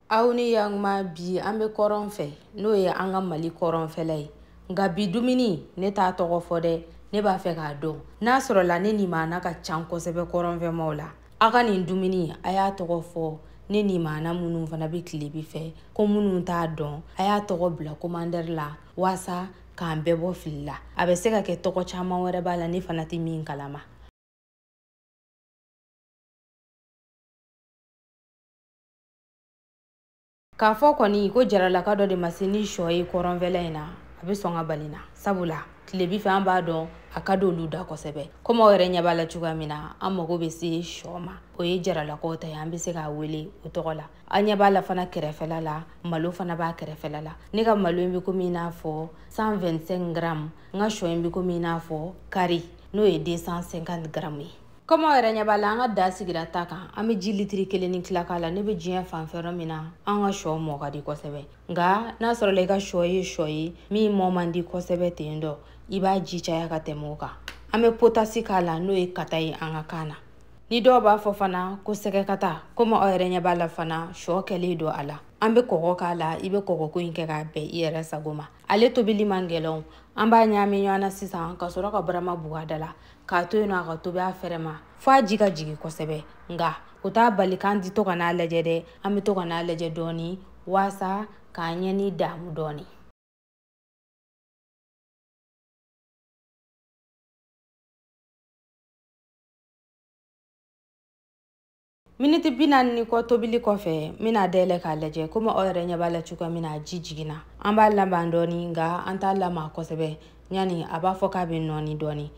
aw ni yanguma bi an bɛ kɔrɔn fɛ n'o ye an ka mali kɔrɔnfɛla ye nka bi dumuni ne t'a tɔgɔ fɔ dɛ ne b'a fɛ k'a dɔn n'a sɔrɔla ne nimaana ka can kosɛbɛ kɔrɔnfɛmaw la a ka nin dumuni a y'a tɔgɔ fɔ ne nimaana minnu fana bɛ tilebi fɛ ko minnu t'a dɔn a y'a tɔgɔ bila komantɛri la waasa k'an bɛɛ bɔ fili la a bɛ se ka kɛ tɔgɔ caman wɛrɛ b'a la ne fana tɛ min kalama k'a fɔ kɔni ko jaralaka dɔ de ma se ni shɔ ye kɔrɔnfɛla in na a bɛ sɔn ka bali n na sabula tilebi fɛ an b'a dɔn a ka di olu da kosɛbɛ komi aw yɛrɛ ɲɛ b'a la cogoya min na an mago bɛ se shɔ ma o ye jaralakaw ta ye an bɛ se k'a wele o tɔgɔ la a ɲɛ b'a la fana kɛrɛfɛla la malo fana b'a kɛrɛfɛla la ne ka malo in bɛ komi i n'a fɔ 125 gramme n ka shɔ in bɛ komi i n'a fɔ kari n'o ye 250 gramme ye kɔmi aw yɛrɛ ɲɛ b'a la an ka da sigira ta kan an bɛ ji litiri kelen ni tila k'a la ne bɛ diɲɛ fan fɛ yɔrɔ min na an ka shɔ mɔ ka di kosɛbɛ nka n'a sɔrɔla i ka shɔ ye shɔ ye min mɔ man di kosɛbɛ ten dɔ i b'a ji caya ka tɛmɛ o kan an bɛ potasi k'a la n'o ye kata ye an ka kan na ni dɔw b'a fɔ fana ko sɛgɛkata komi aw yɛrɛ ɲɛ b'a la fana shɔ kɛlen don a la an bɛ kɔgɔ k'a la i bɛ kɔgɔko in kɛ k'a bɛn i yɛrɛ sago ma ale tobili man gɛlɛn an b'a ɲaami ɲɔgɔn na sisan ka sɔrɔ ka barama buga da la k'a to yen nɔ a ka tobi a fɛrɛ ma fo a ji ka jigi kosɛbɛ nka o t'a bali k'an ti to ka n'a lajɛ dɛ an bɛ to ka n'a lajɛ dɔɔni waasa k'an ɲɛ ni daamu dɔɔni miniti bi naani ni kɔ tobili kɔfɛ n bɛn'a dayɛlɛ k'a lajɛ komi aw yɛrɛ ɲɛ b'a la cogoya min na ji jiginna an b'a lama dɔɔni nka an t'a lama kosɛbɛ yanni a b'a fɔ k'a bɛ nɔɔni dɔɔni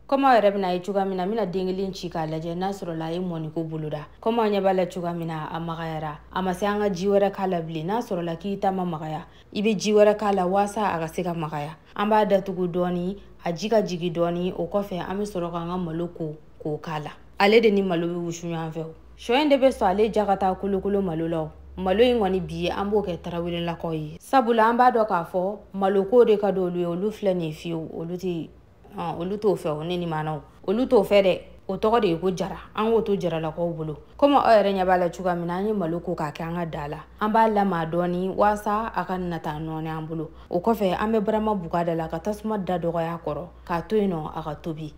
komi aw yɛrɛ bɛn'a ye cogoya min na n bɛna den kelen ci k'a lajɛ n'a sɔrɔla a ye mɔniko boloda komi aw ɲɛ b'a la cogoya min na a magayara a ma se an ka ji wɛrɛ k'a la bilen n'a sɔrɔla k'i ta ma magaya i bɛ ji wɛrɛ k'a la waasa a ka se ka magaya an b'a datugu dɔɔni a ji ka jigi dɔɔni o kɔfɛ an bɛ sɔrɔ k'an ka malo ko k'o k'a la ale de ni malo bɛ wusu ɲɔgɔn fɛ o shɔ in de bɛ sɔn ale ja ka taa kolokolo malo la o malo in kɔni bi ye an b'o kɛ tarawelelakaw ye sabula an b'a dɔn k'a fɔ maloko de ka di olu ye olu filɛ nin ye fiyewu olu tɛ olu t'o fɛ o ne nimaanaw olu t'o fɛ dɛ o tɔgɔ de ye ko jara an k'o to jaralakaw bolo komi aw yɛrɛ ɲɛ b'a la cogoya min na an ye malo ko k'a kɛ an ka da la an b'a lama dɔɔni waasa a ka nata nɔɔni an bolo o kɔfɛ an bɛ barama buga da la ka tasuma da dɔgɔya kɔrɔ k'a to yen nɔ a ka tobi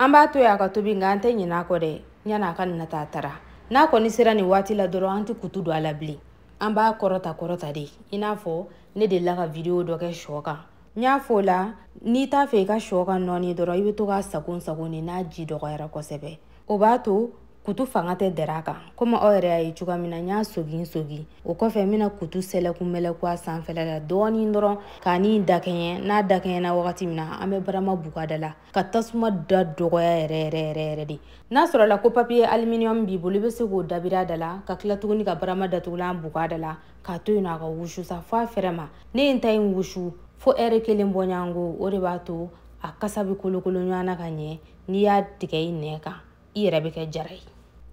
an b'a to y'a ka tobi nka an tɛ ɲinɛ a kɔ dɛ yanni a ka na taa tara n'a kɔni sera nin waati la dɔrɔn an tɛ kutu don a la bilen an b'a kɔrɔta kɔrɔta de i n'a fɔ ne delila ka vidiyo dɔ kɛ shɔ kan n y'a fɔ o la n'i t'a fɛ i ka shɔ ka nɔɔni dɔrɔn i bɛ to k'a sagon sagon de n'a ji dɔgɔyara kosɛbɛ o b'a to kutu fanga tɛ dɛrɛ a kan komi aw yɛrɛ y'a ye cogoya min na n y'a sogin sogin o kɔfɛ n bɛna kutu sɛlɛku mɛlɛku a sanfɛla la dɔɔnin dɔrɔn k'a ni dakɛɲɛ n'a dakɛɲɛna wagati min na an bɛ barama buga da la ka tasuma da dɔgɔya yɛrɛ yɛrɛ yɛrɛ yɛrɛ de n'a sɔrɔla ko papiye aluminium b'i bolo i bɛ se k'o dabiri a da la ka tila tuguni ka barama datugulan buga da la k'a to yen nɔ a ka wusu sa fo a fɛrɛ ma ne ye n ta in wusu fo ɛri kelen bɔɲɔgɔnko o de b'a to a kasa bɛ kolokolo ɲɔgɔn na ka ɲɛ n'i y'a tigɛ i nɛn kan i yɛrɛ bɛ kɛ jara ye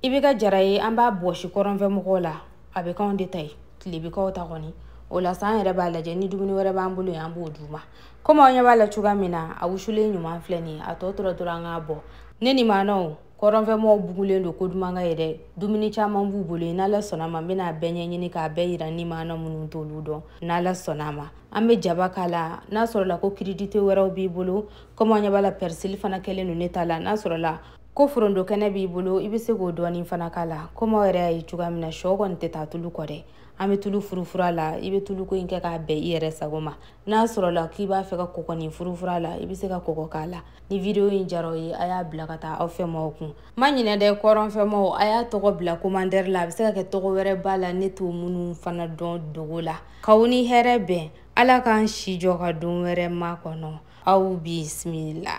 i bɛ kɛ jara ye an b'a bɔsi kɔrɔnfɛ mɔgɔw la a bɛ k'anw de ta ye tile bɛ k'aw ta kɔni o la sa an yɛrɛ b'a lajɛ ni dumuni wɛrɛ b'an bolo ye an b'o d'u ma komi aw ɲɛ b'a la cogoya min na a wusulen ɲuman filɛ nin ye a tɔ tora dɔrɔn an k'a bɔ ne ni maanaw kɔrɔnfɛmɔgɔw bugulen don ko duman kan yen dɛ dumuni caman b'u bolo ye n'ala sɔnna ma n bɛna bɛɛ ɲɛɲini k'a bɛɛ yira ni maana minnu t'olu dɔn n'ala sɔnna ma an bɛ jaba k'a la n'a sɔrɔla ko kiridite wɛrɛw b'i bolo komi an ɲɛ b'a la pɛrisili fana kɛlen don ne ta la n'a sɔrɔla ko foronto kɛnɛ b'i bolo i bɛ se k'o dɔɔnin fana k'a la komi aw yɛrɛ y'a ye cogoya min na shɔ kɔni tɛ taa tulu kɔ dɛ an bɛ tulu furufura la i bɛ tuluko in kɛ k'a bɛn i yɛrɛ sago ma n'a sɔrɔla k'i b'a fɛ ka kɔgɔnin furufura la i bɛ se ka kɔgɔ k'a la ni video in diyara a ye a y'a bila ka taa aw fɛmaw kun ma ɲinɛ dɛ kɔrɔnfɛmaw a y'a tɔgɔ bila komantɛri la a bɛ se ka kɛ tɔgɔ wɛrɛ b'a la ne t'o minnu fana dɔn dogo la k'aw ni hɛrɛ bɛn ala k'an si jɔ ka don wɛrɛ makɔnɔ aw bisimila.